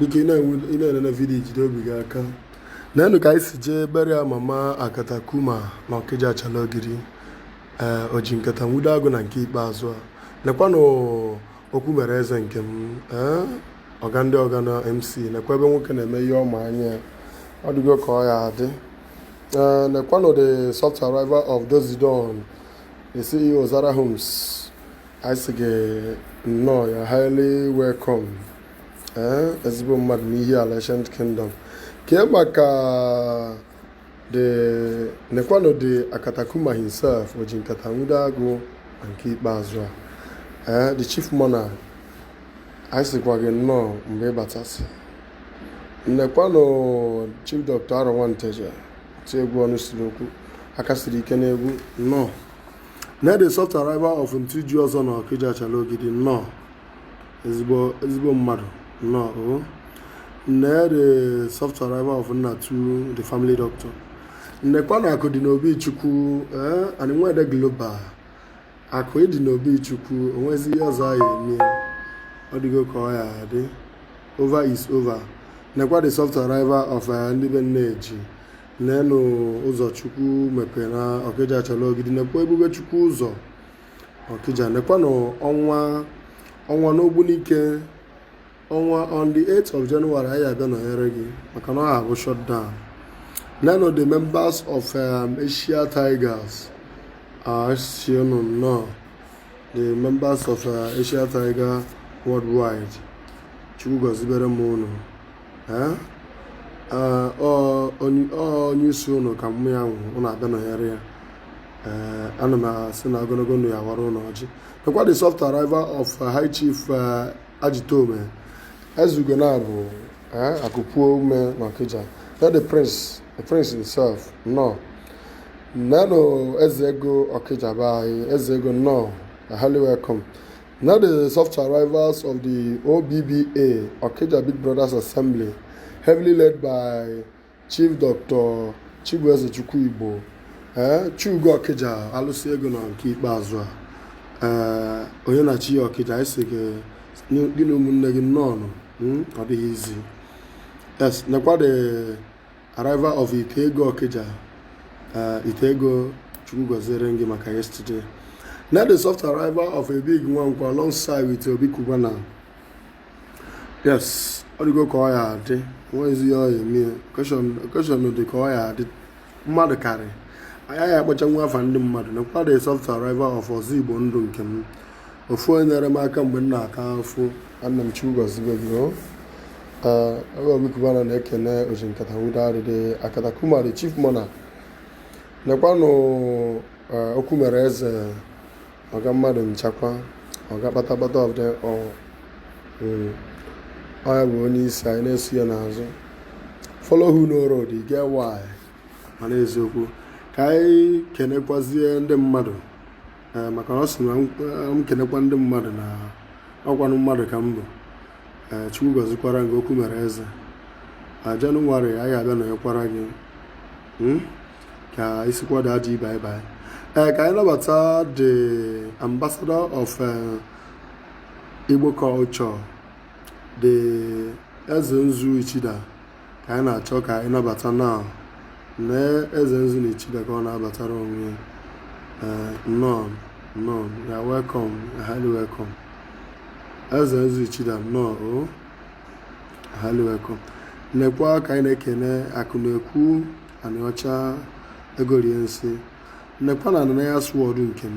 nke ị na-enene video jide obi gị aka nenụ ka anyị si jee berịa mama akatakuma na ọkịja achala ogiri ee eh, oji nkata nwudo agụ na nke ikpeazụ a nekwanụ okwu mere eze nke m ee eh, ọga ndị ọga na mc nekwa ebe nwoke na-eme ihe ọma anya ọ dịgo ka ọ ya adị ee eh, nekwanụ the soft arrival of Dozidon the CEO Zara Homes anyị sị gị nnọọ you're highly welcome ee ezigbo mmadụ n'Ihiala ancient kingdom kee maka nekwanụ the akatakuma himself oji nkata nwude agụ na nke ikpeazụ a ee the chief monarch anyị sịkwa gị nnọọ mgbe ị batasị nekwanụ chief dr Arọ nwa Nteje ti egwu ọnụ siri okwu aka siri ike n'egwu nnọọ nee the soft arrival of Ntụ ji ọzọ na Okija Achala Ogidi nnọọ ezigbo mmadụ nnọọ o oh. nee the soft arrival of Nnatu the family doctor nekwanụ akụ dị n'obi chukwu ee eh, anyị nwede global akụ ịdị n'obi chukwu o nwezi ihe ọzọ a ya-eme ọ dịgo ka ọ ya adị over is over nekwa the soft arrival of eh, ndị be nne eji Nenụ ụzọ Chukwu mepere na Ọkịja Achala Ogidi nekwa ebube Chukwu ụzọ Ọkịja nekwanụ ọnwa ọnwa n'ogbunike ọnwa on the 8th of January anyị abịa nọnyere gị maka na ọ ha-abụ shutdown nenụ the members of um, Asia Tigers a sị ụnụ nnọọ the members of uh, Asia Tiger worldwide Chukwu gọzibere m unu onye isi ụnụ ka mum ya nwụ ụnụ abịa nọnyere ya ee ana m asị na ogologo ndụ ya-awara ụnụ ọjị nekwa the soft arrival of uh, high chief uh, ajitome Ezeugo na bụ Akụpuome na ọkịja nee the prince the prince himself nnọọ nenụ eze ego ọkịja be anyị eze ego nnọọ highly welcome Now the soft arrivals of the OBBA, Okija Big Brothers Assembly, heavily led by Chief Dr. Chibueze Chukwuigbo, eh, Chugo Okija, alụsị ego na nke ikpeazụ a, eh, onye na-achị Okija, a sị gị gị na ụmụnne gị nnọọ ọ dịghị easy. Yes, nekwa the Arrival of Ite Ego Okija. Uh, Ite Ego Chukwu gọziere m gị maka yesterday. Now the soft arrival of Abig Nwankwo alongside with Obi Cubana. Yes, ọ dịgo ka ọ ya adị nwezi ihe ọ ya-eme occasion dị ka ọ ya adị mmadụ karị anyị ya-akpọcha nwa afa ndị mmadụ nekwa the soft arrival of ọzọ igbo ndụ nke m ofu onye nyere m aka mgbe m na-ata afụ nna m Chukwu gọzibere gị Obi Cubana na-ekene oji nkata nwudo arịdị akata kumari chief mona nekwanụ okwu mere eze ọga mmadụ nchakwa ọga kpatakpata of them all ọ ya bụ onye isi anyị na-eso ya n'azụ follow who know road e get why mana eziokwu ka anyị kenekwazie ndị mmadụ eh, maka na ọ sị na m kenekwa ndị mmadụ na ọkwanụ mmadụ ka m bụ eh, chukwu gọzikwara gị okwu mere eze na jenụwarị anyị abịa nọnyekwara gị hmm? ka i sikwa adị bye bye ee ka anyị nabata the ambassador of eh, Igbo culture the Eze Nzu Ichida ka anyị na-achọ ka anyị nabata now nee Eze Nzu na Ichida ka ọ na-abatara onwe ya Eh, nnọọ nnọọ you are welcome highly welcome Eze Nzu Ichida nnọọ o highly welcome nekwa ka anyị na-ekene akụ na-ekwu Anịọcha ego rie nsị nekwa na ananaghị asụ ọdụ nke m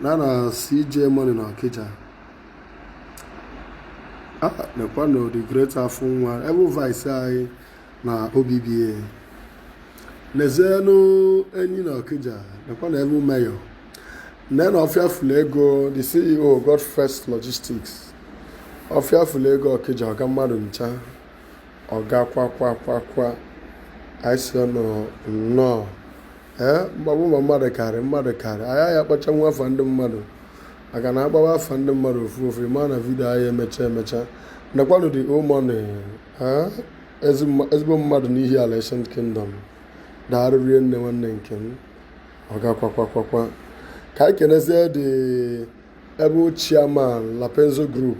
na na CJ Money na Ọkịja nekwanụ the great afụ nwa able vice anyị na OBBA nezienụ enyi na Ọkịja nekwanụ able mayor nenụ ọfịa fụlụ ego the CEO God First Logistics ọfịa fụlụ ego Ọkịja ọga mmadụ ncha ọga kwakwakwakwa anyị sị unu nnọọ ee mgbagbu ma mmadụ karị mmadụ karị anyị aya akpọchanwu afa ndị mmadụ maka na a kpọba afa ndị mmadụ ofu ofu ma na vidio anyị emecha emecha nekwanụ dị omoni ezigbo mmadụ n'Ihiala Ancient Kingdom daarụ rinne nwanne nke m ọga kwakwakwa ka anyị kenezie the able chairman Lapenzo Group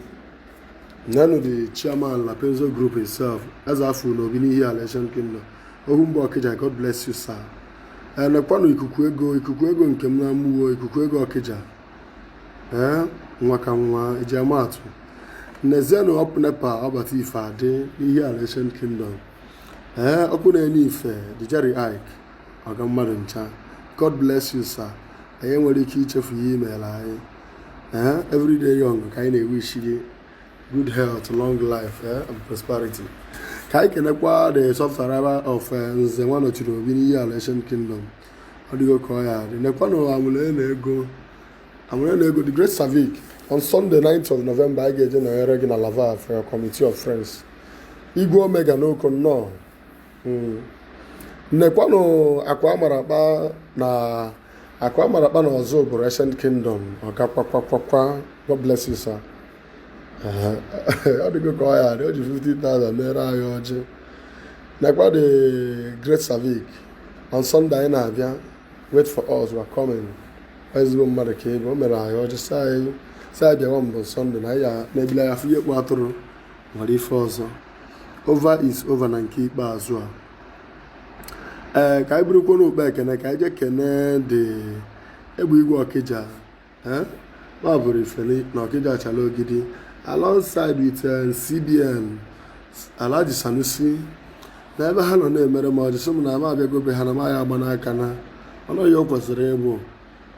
nenụ the chairman Lapenzo Group itself eze afụ n'obi n'Ihiala Ancient Kingdom ohu mba Ọkịja God bless you sir ee nekwanụ ikuku ego ikuku ego nke m na Amuwo ikuku ego Ọkịja ee nwa ka nwa eji ama atụ nezienụ ọ pụ NEPA ọ bata ife adị n'Ihiala Ancient Kingdom ee ọkụ na-enye ife the Jerry Ike ọga mmadụ ncha god bless you sir anyị enwerọ ike ichefu ihe i meela anyị ee eh, everyday young ka anyị na-ewishi gị good health long life eh, and prosperity ka anyị kenekwa the subscriber of eh, nze nwa nọchiri obi n'Ihiala Ancient Kingdom ọ dịgo ka ọ ya-adị nekwanụ amụlụ na ego amụlụ na ego the great savic on sunday 9th of november anyị ga-eje nọnyere gị na lava for your committee of friends igwe omega n'Oko nnọọ hmm. nekwanụ akwa amara akpa na akwa amara akpa na Ọzụbụlụ Ancient Kingdom ọga kwakwakwakwa God bless you sir ọ dịgo ka ọ ya-adị o ji 50,000 mere anyị ọjị nekwa the Great Savic on Sunday anyị na-abịa wait for us we are coming ezigbo mmadụ ka ebe o mere anyị ọjị sị anyị bịawa mbụ Sunday na anyị na-ebili anya fụ ihe kpụ atụrụ nwere ife ọzọ over is over na nke ikpeazụ a ee eh, ka anyị burukwanụ ụkpa ekene ka anyị jee kene the egbe igwe ọkịja eh? ma bụrụ ifeli na ọkịja achala ogidi alongside with eh, cbn alhaji sanusi na ebe ha nọ na-emere mụ ọjị sị m na ama abịago be ha na m ya-agba n'aka na ọnụ ya o kwesịrị ịbụ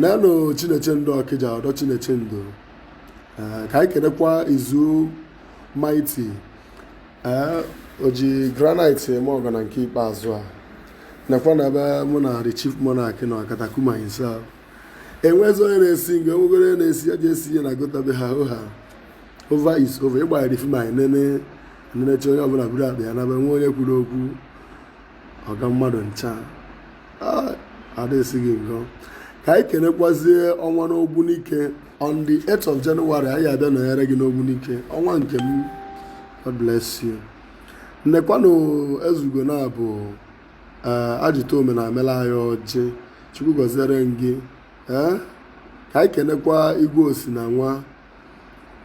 nenụ Chinechendo Ọkịja ọdọ Chinechendo eh, ka anyị kenekwa izu Mighty eh, o ji granite eme ọgọ na nke ikpeazụ a nekwa na ebe mụ na the chief monarch na Akatakuma himself enwezi onye na-esi nga enwegoro onye na-esi ya ji esi ihe na gotabe ha ọha over is over ịgbara film anyị nene nenechaa onye ọbụla buru akpa ya naba enwe onye kwuru okwu ọga mmadụ ncha adasị gị ngọ ka anyị kenekwazie ọnwa n'ogbunike on the 8th of January anyị abịa nọnyere gị n'ogbunike ọnwa nke m God bless you nekwanụ ezeugo na abụ eh, ajụta ome na emela anyị ọjị chukwu gọziere gị eh? ka anyị kenekwa igwe osi na nwa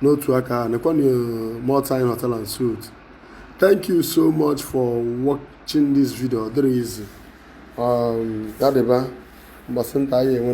n'otu aka ahụ nekwanụ uh, more time hotel and suit thank you so much for watching this video ọ dịrị easy um, ya dịba mgbe a sị nta anyị enwe